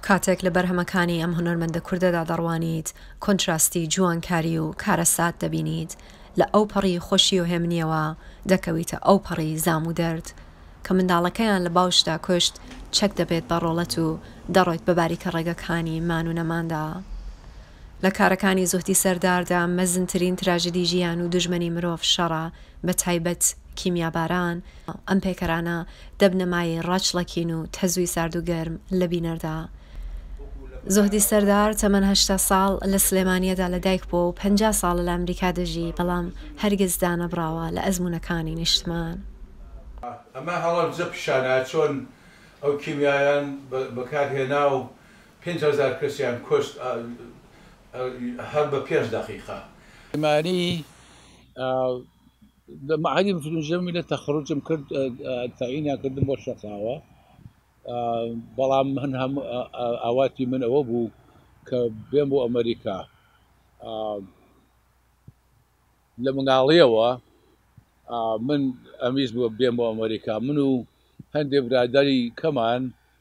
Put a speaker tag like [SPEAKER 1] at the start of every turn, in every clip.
[SPEAKER 1] کاتێک لە بەرهەمەکانی ئەم هونەرمەندە کوردەدا دەڕوانیت، کۆنتراستی جوانکاری و کارەسات دەبینیت، لە ئەوپەڕی خۆشی و هێمنییەوە دەکەویتە ئەوپەڕی زام و دەرد. کە منداڵەکەیان لە باوشدا کوشت، چەک دەبێت بە ڕۆڵەت و دەڕۆیت بە باریکە ڕێگەکانی مان و نەماندا. لە کارەکانی زوهدی سەرداردا مەزنترین تراژیدی ژیان و دوژمنی مرۆڤ شەڕە، بە تایبەت کیمیاباران، ئەم پەیکەرانە دەبنە مایەی ڕاچڵەکین و تەزووی سارد و گەرم لە بینەردا. زوهدی سەردار تەمەن هەشتا ساڵ لە سلێمانییەدا لە دایک بووە و پەنجا ساڵە لە ئەمریکا دەژی، بەڵام هەرگیز دانەبڕاوە لە ئەزموونەکانی نیشتمان.
[SPEAKER 2] ئەمە هەڵەبجە پیشانە چۆن ئەو کیمیایان بەکارهێنا و پێنج هەزار کەسیان
[SPEAKER 3] کوشت هەر بە پێنج دەقیقە. سلێمانی، لە مەعهەدی مترجم لە تەخەروجم کرد، تەعینیان کردم بۆ شەقاوە، بەڵام من هەم ئاواتی من ئەوە بوو کە بێم بۆ ئەمەریکا. لە منداڵییەوە من ئەمویست بێم بۆ ئەمەریکا، من و هەندێ برادەری کەمان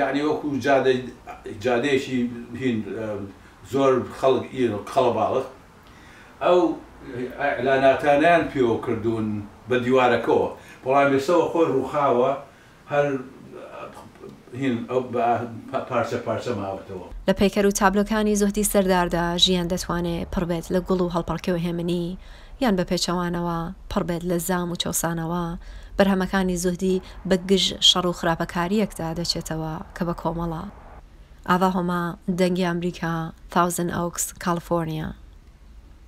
[SPEAKER 2] یانی وەکو جادە جادەیەکی هین زۆر خەڵک ی قەڵەباڵغ ئەو ئیعلاناتانەیان پێوە کردوون بە دیوارەکەوە بەڵام ئێستە خۆی ڕووخاوە هەر هین ئەو بە پارچە پارچە ماوەتەوە. لە پەیکەر و تابلۆکانی
[SPEAKER 1] زوهدی سەرداردا ژیان دەتوانێ پڕ بێت لە گوڵ و هەڵپەڕکێ و هێمنی، یان بە پێچەوانەوە پڕ بێت لە زام و چەوسانەوە، بەرهەمەکانی زوهدی بە گژ شەڕ و خراپەکارییەکدا دەچێتەوە کە بە کۆمەڵە، ئاڤا هۆما، دەنگی ئامریکا، ثاوزن ئۆکس، کاڵفۆرنیا.